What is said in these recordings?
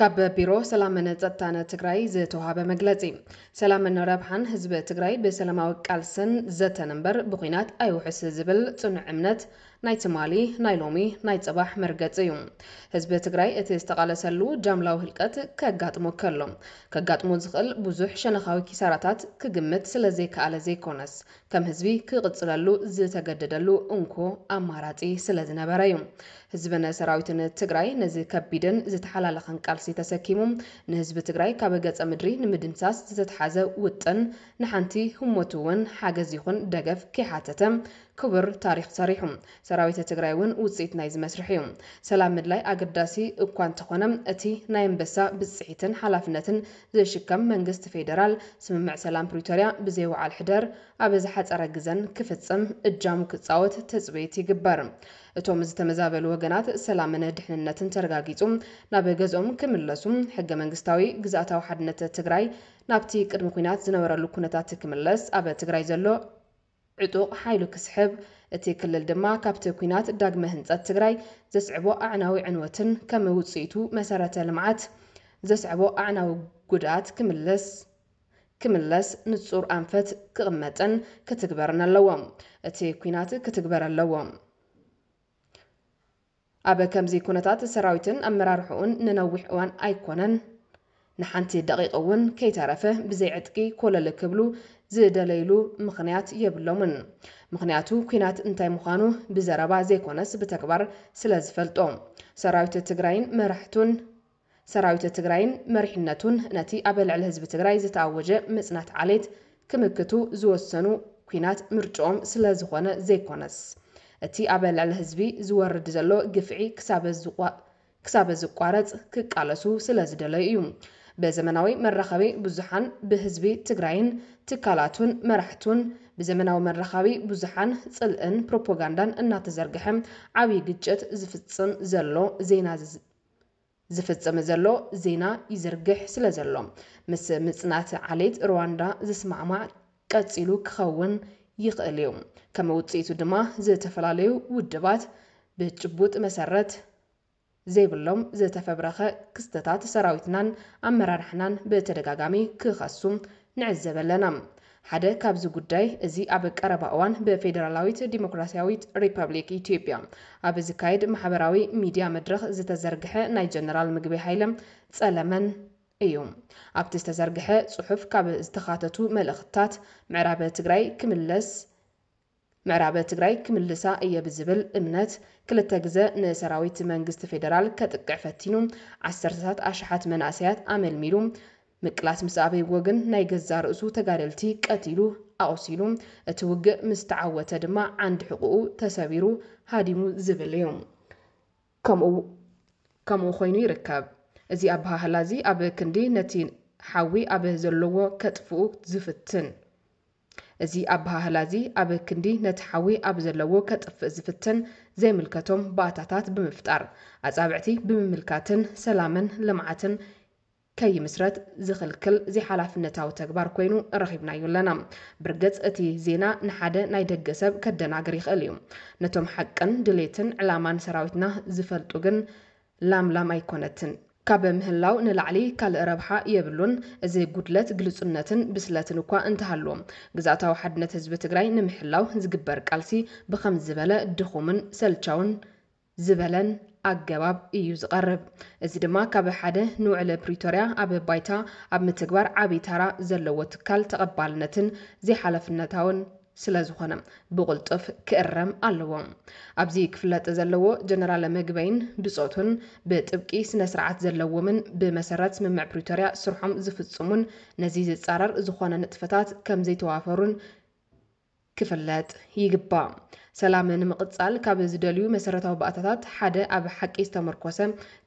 ካብ ቢሮ ሰላምን ፀጥታን ትግራይ ዝተውሃበ መግለፂ። ሰላምን ረብሓን ህዝቢ ትግራይ ብሰላማዊ ቃልስን ዘተን እምበር ብኹናት ኣይውሕስ ዝብል ፅኑዕ እምነት ናይ ትማሊ፣ ናይ ሎሚ፣ ናይ ፅባሕ መርገፂ እዩ። ህዝቢ ትግራይ እቲ ዝተቓለሰሉ ጃምላዊ ህልቀት ከጋጥሞ ከሎ ከጋጥሞ ዝኽእል ብዙሕ ሸነኻዊ ኪሳራታት ክግምት ስለዘይከኣለ ዘይኮነስ ከም ህዝቢ ክቕጽለሉ ዝተገደደሉ እንኮ ኣማራጺ ስለ ዝነበረ እዩ። ህዝብን ሰራዊትን ትግራይ ነዚ ከቢድን ዝተሓላለኸን ቃልሲ ተሰኪሙ ንህዝቢ ትግራይ ካብ ገጸ ምድሪ ንምድምሳስ ዝተትሓዘ ውጥን ንሓንቲ ህሞት እውን ሓገዝ ይኹን ደገፍ ከይሓተተ ክቡር ታሪኽ ሰሪሑ። ሰራዊት ትግራይ እውን ውጽኢት ናይዚ መስርሕ እዩ። ሰላም ምድላይ ኣገዳሲ እኳ እንተኾነ እቲ ናይ ኣንበሳ ብጽሒትን ሓላፍነትን ዘይሽከም መንግስቲ ፌደራል ስምምዕ ሰላም ፕሪቶርያ ብዘይ ውዓል ሕደር ኣብ ዝሓፀረ ግዘን ክፍፅም እጃሙ ክፃወት ትፅቢት ይግበር። እቶም ዝተመዛበሉ ወገናት ሰላምን ድሕንነትን ተረጋጊፁ ናብ ገዝኦም ክምለሱ፣ ሕገ መንግስታዊ ግዝኣታዊ ሓድነት ትግራይ ናብቲ ቅድሚ ኲናት ዝነበረሉ ኩነታት ክምለስ ኣብ ትግራይ ዘሎ ዕጡቕ ሓይሉ ክስሕብ፣ እቲ ክልል ድማ ካብቲ ኲናት ዳግመ ህንፀት ትግራይ ዘስዕቦ ኣዕናዊ ዕንወትን ከም ውፅኢቱ መሰረተ ልምዓት ዘስዐቦ ኣዕናዊ ጉድኣት ክምልስ ክምለስ ንፁር ኣንፈት ክቕመጥን ክትግበርን ኣለዎ። እቲ ኲናት ክትግበር ኣለዎ። ኣብ ከምዚ ኩነታት ሰራዊትን ኣመራርሕኡን ንነዊሕ እዋን ኣይኮነን ንሓንቲ ደቒቕ እውን ከይተረፈ ብዘይ ዕጥቂ ኮለል ክብሉ ዝደለይሉ ምኽንያት የብሎምን። ምኽንያቱ ኲናት እንታይ ምዃኑ ብዘረባ ዘይኮነስ ብተግባር ስለዝፈልጦ። ሰራዊት ትግራይን መራሕቱን። ሰራዊት ትግራይን መሪሕነቱን ነቲ ኣብ ልዕሊ ህዝቢ ትግራይ ዝተኣወጀ ምፅናት ዓሌት ክምክቱ ዝወሰኑ ኲናት ምርጭኦም ስለዝኾነ ዘይኮነስ እቲ ኣብ ልዕሊ ህዝቢ ዝወርድ ዘሎ ግፍዒ ክሳበ ዝቋረፅ ክቃለሱ ስለዝደለዩ እዩ ብዘመናዊ መራኸቢ ብዙሓን ብህዝቢ ትግራይን ትካላቱን መራሕቱን ብዘመናዊ መራኻቢ ብዙሓን ፅልእን ፕሮፖጋንዳን እናተዘርገሐ ዓብዪ ግጭት ዝፍፅም ዘሎ ዜና ዝፍጽም ዘሎ ዜና ይዝርግሕ ስለዘሎ፣ ምስ ምጽናት ዓሌት ርዋንዳ ዝስማዕማዕ ቀጺሉ ክኸውን ይኽእል'ዩ። ከም ውጽኢቱ ድማ ዝተፈላለዩ ውድባት ብጭቡጥ መሰረት ዘይብሎም ዝተፈብረኸ ክስተታት ሰራዊትናን ኣመራርሓናን ብተደጋጋሚ ክኸሱ ንዕዘብ ኣለና። ሓደ ካብዚ ጉዳይ እዚ ኣብ ቀረባ እዋን ብፌደራላዊት ዲሞክራሲያዊት ሪፐብሊክ ኢትዮጵያ ኣብ ዝካየድ ማሕበራዊ ሚዲያ መድረኽ ዝተዘርግሐ ናይ ጀነራል ምግበይ ሃይለ፣ ጸለመን፣ እዩ። ኣብቲ ዝተዘርግሐ ጽሑፍ ካብ ዝተኻተቱ መልእኽትታት ምዕራብ ትግራይ ክምለስ ምዕራብ ትግራይ ክምልሳ እየ ብዝብል እምነት ክልተ ግዘ ንሰራዊት መንግስቲ ፌደራል ከጥቅዕ ፈቲኑ ዓሰርተታት ኣሽሓት መናእሰያት ኣመልሚሉ ምቅላስ ምስ ኣበይዎ ግን ናይ ገዛእ ርእሱ ተጋደልቲ ቀቲሉ ኣቑሲሉ እቲ ውግእ ምስ ተዓወተ ድማ ዓንዲ ሕቑኡ ተሰቢሩ ሃዲሙ ዝብል እዩ። ከምኡ ከምኡ ኮይኑ ይርከብ። እዚ ኣበሃህላ እዚ ኣብ ክንዲ ነቲ ሓዊ ኣብ ዘለዎ ከጥፍኡ ዝፍትን፣ እዚ ኣበሃህላ እዚ ኣብ ክንዲ ነቲ ሓዊ ኣብ ዘለዎ ከጥፍእ ዝፍትን ዘይምልከቶም ባእታታት ብምፍጣር፣ ኣጻብዕቲ ብምምልካትን ሰላምን ልምዓትን ከይምስረት ዝኽልክል ዘይሓላፍነታዊ ተግባር ኮይኑ ረኺብናዮ ኣለና። ብርግጽ እቲ ዜና ንሓደ ናይ ደገ ሰብ ከደናግር ይኽእል እዩ። ነቶም ሓቅን ድሌትን ዕላማን ሰራዊትና ዝፈልጡ ግን ላም ላም ኣይኮነትን። ካብ ምህላው ንላዕሊ ካልእ ረብሓ የብሉን። እዚ ጉድለት ግልጹነትን ብስለትን እኳ እንተሃልዎ፣ ግዝኣታዊ ሓድነት ህዝቢ ትግራይ ንምሕላው ዝግበር ቃልሲ ብኸምዚ ዝበለ ድኹምን ሰልቻውን ዝበለን ኣገባብ እዩ ዝቐርብ። እዚ ድማ ካብ ሓደ ንውዕሊ ፕሪቶርያ ኣብ ባይታ ኣብ ምትግባር ዓብይ ታራ ዘለዎ ትካል ተቐባልነትን ዘይሓላፍነታውን ስለዝኾነ ብቕልጡፍ ክእረም ኣለዎ። ኣብዚ ክፍለጥ ዘለዎ ጀነራል ምግበይን ብጾቱን ብጥብቂ ስነስርዓት ዘለዎምን ብመሰረት ስምምዕ ፕሪቶርያ ስርሖም ዝፍጽሙን ነዚ ዝጻረር ዝኾነ ንጥፈታት ከምዘይተዋፈሩን ክፍለጥ ይግባእ። ሰላም ንምቕጻል ካብ ዝደልዩ መሰረታዊ ባእታታት ሓደ ኣብ ሓቂ ዝተመርኮሰ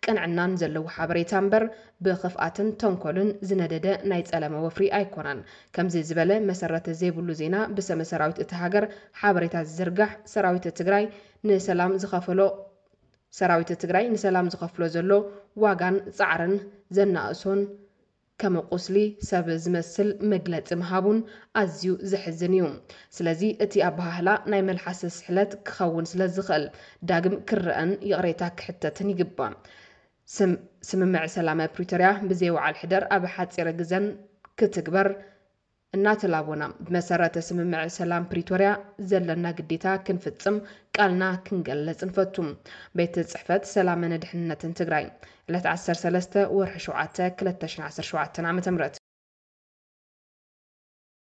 ቅንዕናን ዘለዎ ሓበሬታ እምበር ብኽፍኣትን ተንኮልን ዝነደደ ናይ ጸለመ ወፍሪ ኣይኮነን። ከምዚ ዝበለ መሰረት ዘይብሉ ዜና ብሰመ ሰራዊት እታ ሃገር ሓበሬታ ዝዝርጋሕ ሰራዊት ትግራይ ንሰላም ዝኸፈሎ ሰራዊት ትግራይ ንሰላም ዝኸፍሎ ዘሎ ዋጋን ጻዕርን ዘናእሶን ከም ቁስሊ ሰብ ዝመስል መግለጺ ምሃቡን ኣዝዩ ዘሕዝን እዩ። ስለዚ እቲ ኣበሃህላ ናይ መልሓስ ስሕለት ክኸውን ስለ ዝኽእል ዳግም ክረኣን ይቕሬታ ክሕተትን ይግባእ። ስም ስምምዕ ሰላመ ፕሪቶርያ ብዘይ ውዓል ሕደር ኣብ ሓጺረ ግዘን ክትግበር እናተላቦና ብመሰረተ ስምምዕ ሰላም ፕሪቶርያ ዘለና ግዴታ ክንፍፅም ቃልና ክንገልፅ ንፈቱ። ቤት ፅሕፈት ሰላምን ድሕንነትን ትግራይ ዕለት ዓሰርተ ሰለስተ ወርሒ ሸውዓተ ክልተ ሽሕን ዓሰርተ ሸውዓተን ዓ.ም።